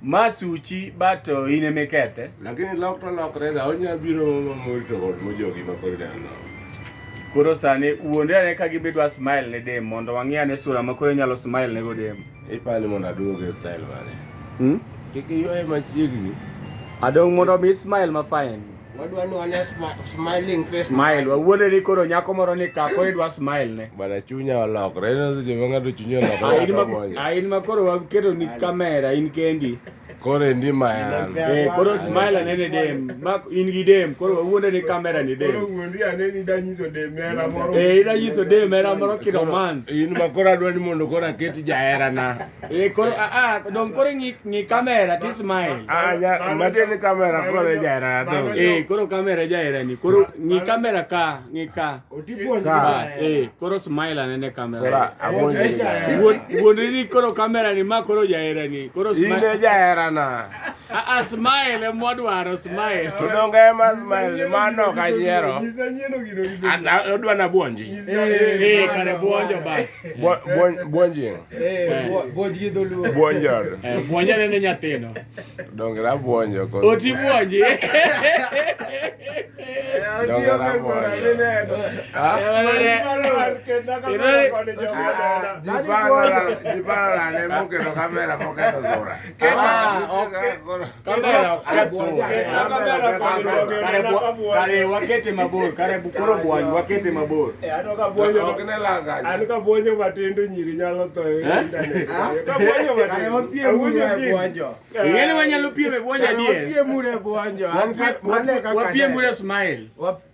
Ma suchi bato in ema ikethe. Lakini lok to lokre da onya biro mamor to kod mojogi ma koro dano. Koro sani wuonde ane ka gimbe dwa smile ne dem mondo wang'e ane sura ma koro inyalo smile ne go dem. Ipani mondo aduog e style mane. Hmm? Kik iyoe machiegni. Adong' mondo mi smile ma fine. Wadwa ni wane smiling face. Smile. Wawuodo ni koro nyako moro ni kako idwa smile ne. Bana chunya olokre. Ina seche ma ng'ato chunya olokre. Ain ma ain ma koro waketo ni kamera in kendi. Koro ndi ma yan. Eh koro smile ne ne dem. Ma in gi dem. Koro wawuodo ni kamera ni dem. Koro wuondi ane ni da nyiso dem mera moro. Eh ida nyiso dem mera moro ki romance. In ma koro adwa ni mondo koro aketi jahera na. Eh, koro a a don koro ngi ngi kamera ti smile. Ah, ya, mate ni kamera koro ja era do. Eh, koro kamera ja era ni. Koro ngi kamera ka, ngi ka. Ka, eh, koro smile ane ne kamera. Kora, abonde. Won won ni koro kamera ni ma koro ja era ni. Koro smile. Ine ja era na. A a smile mo dwaro smile. To donga ma smile ma no ka jero. Ana odwa na buonji. Eh, kare buonjo bas. Buonjing. Eh, buonj gi dholuo. Buonjor. Eh, Buonja neno nyathino. Donge la buonjo ko. Oti buonji. Eh, Donge la buonjo. Ah. Jipara ne mukero kamera mukero zora. Ah, okay. Kamera katso. Kare wakete mabor, kare bukoro bwanyu wakete mabor. Eh ano ka bwanyu ok ne langa. Ano ka bwanyu matindo nyiri nyalo to e eh? internet. Ah? Ka bwanyu matindo. Kare wapie mure bwanjo. Ngene wanyalo pie me bwanjo die. Wapie mure bwanjo. Wapie mure smile. Wapie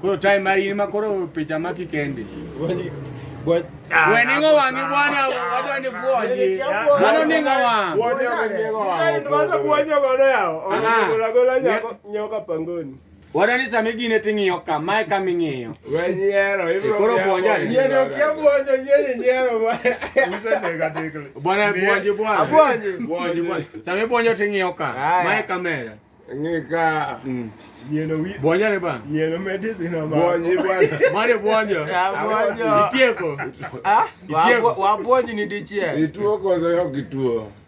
Koro time mari in ma koro picha ma kikendi. Weningo wangi bwana wadwa ni bwoji. Mano ningo wang. Bwoji ningo wang. Ndio basa bwoji godo yao. Ona gola gola nyoka pangoni. Wada ni sami gine ting'iyo ka, mae kama ing'iyo. We nyiero, ibro Koro buonja ni. Yeni okia buonjo, yeni nyiero ba. Usa nega tekle. Bwana buonji bwana. Abuonji. Buonji bwana. Sami buonjo ting'iyo ka, mae kamera. Ng'i ka. Mm. Yieno wi. Buonja ni ba. Yieno medicine ama. Buonji bwana. Mane buonjo. Abuonjo. Itieko. Ah, wabuonji ni dichiel. Ituo koso yo kituo.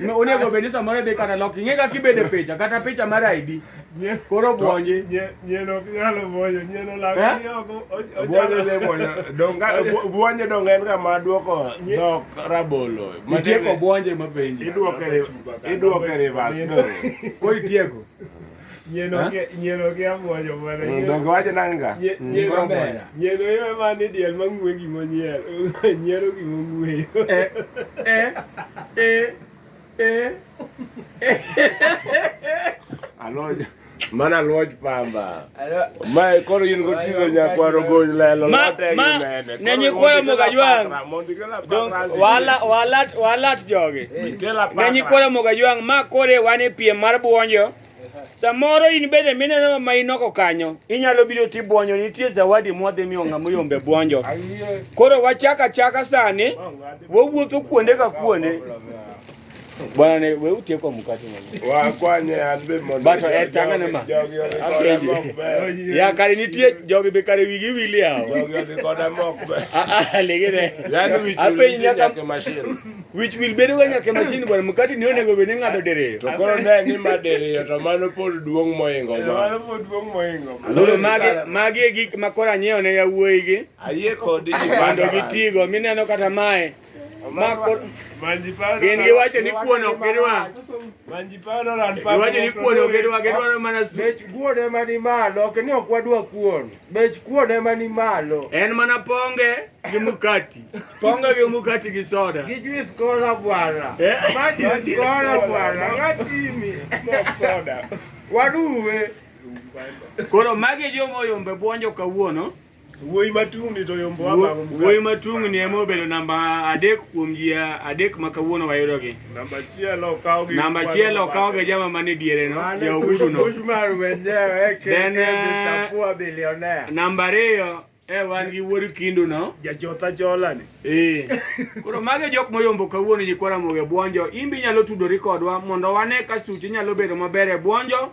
Ma- onego bed ni samoro idhi kata lok ing'e kaka ibede picha kata picha mar id Nye- koro bwonji nye- nyien ok nyal bwonyo nyien Eh? olako ni oko o- Buonye ochalo- ne buonye. Donga bu- buonye donga en kama duoko dhok rabolo. itieko bwonje mapenji Iduoke ri- iduoke reverse. Nindo. koro itieko Nyeno ke nyeno ke abuojo bwana. Mm, donge wacho nanga. Nyeno bera. Nyeno yo ema ni diel mang'we gimo nyiel. Nyiero gimo ng'we. Eh eh eh eh. Aloja. Mana luoj pamba. Ma koro in gotizo nyakwaro gony lelo. Ma ma. Nenye kwa mugajwang. walat jogi ne nyikwa moga jwang' ma kore wan e piem mar buonjo samoro in bende mineno ma inoko kanyo inyalo biro ti buonjo nitie zawadi mwadhi miyo ng'ama oyombe buonjo koro wachaka chaka sani wawuotho kuonde ka kuonde Bwana ne we utie kwa mkate mwenye. Wa kwanye anbe mondo. Bato e tanga ne ma. Ya kare nitie jogi be kare wigi wili hao. Jogi odhi koda mok be. Ah ah legere. Yaani wich will nyaka ke machine. Wich will bedo ga nyaka machine bwana mkate ni onego be ni ngado dere. To koro ne ni ma dere to mano pod duong moingo ma. Mano pod duong moingo. Lolo magi magi e gik makora nyeo ne yawuoyi gi. Ayie kodi. Bando gitigo mineno kata mae. Gin giwacho ni kuon ok gidwa. Giwacho ni kuon ok gidwa, gidwaro mana su. Bech kuon ema ni malo, ok ni ok wadwa kuon. Bech kuon ema ni malo. En mana ponge gi mukati. Ponge gi mukati gi soda. Gi juice kola bwana. Eh? Ma juice kola bwana. Ngatimi. Mok soda. Waruwe. Koro magi joma oyombe buonjo kawuono. Wuoyi matung'ni to yombo abang'o mkate. Wuoyi matung'ni ema obedo namba adek kuom ji adek ma kawuono wayudogi. Namba achiel okawo gi Namba achiel okawo gi jama man e diere no, ja Uhuru no. Then eh, namba ariyo e wan gi wuod Kindu no. Jachotha chola ni. Eh. Koro mage jok moyombo kawuono nyikwara moge bwonjo. Imbi nyalo tudori kodwa mondo wane ka suchi nyalo bedo maber e bwonjo.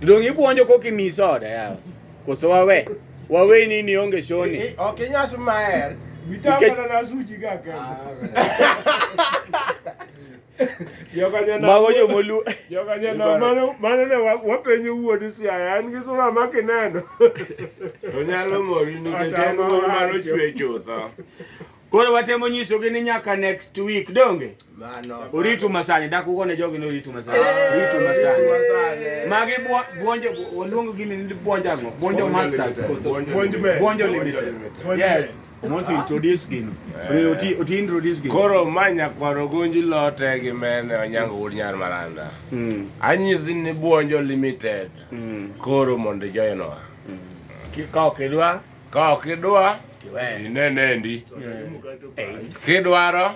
Donge ipuonjo koki mi soda yawa. Koso wawe. Wawe ni ni onge shoni. Eh, eh, okay, nyasu maer. Bitamba na suji ga ka. Mago yo molu. Yo ka jana mano mano ne wapenyo wuod siaya an gi sura ma kineno. Onyalo mori ni jana mano chwe chutho. Koro watemo nyisogi ni nyaka next week donge? Mano. Uritu masani dak uko ne jogi ni uritu masani. Eh, uritu masani. Magi buonjo oluongo gini ni buonjo ango? Buonjo masters. Buonjo me. Buonjo limited. Yes. Mos introduce gini. Eh. Uti uti introduce gini. Koro manya kwaro gonji lote gi mene onyango wud nyar maranda. Mm. Anyizi ni buonjo limited. Mm. Koro mondo joyenowa. Mm. Kikawo kedwa. Ka ok idwa tinene ndi kidwaro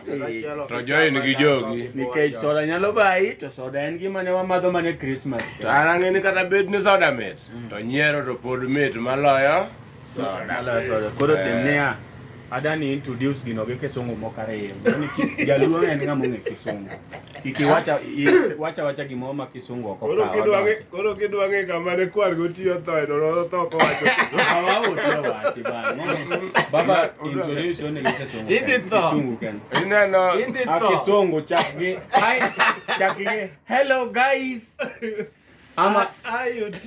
to join gi jogi nikech soda nyalo bayi to soda en gima ne wamadho mane Christmas to an ang'e ni kata bed ni soda mit mm. to nyiero to pod mit maloyo soda koro eh. tim niya adani introduce gino gi kisungu moko ariyo jaluo en ng'ama ong'e kisungu Kiki wacha wacha wacha gimo ma kisungu oko koro kidwa nge koro kidwa nge kama ne kwar go tiyo to e dolo to ko wacho awa o tiyo wacho ba baba introduction ne kisungu indi to kisungu ken ina no indi to kisungu chakgi hi chakgi hello guys ama iot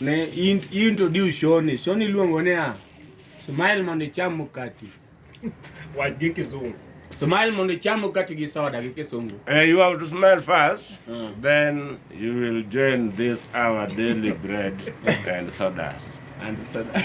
Ne introduce Shoni. Shoni luongo ni a smile mondo icham mkati. Wach gi kizungu. Smile mondo icham mkati gi soda gi kisungu. Uh, eh, you have to smile first, uh. then you will join this our daily bread and sodas. And soda.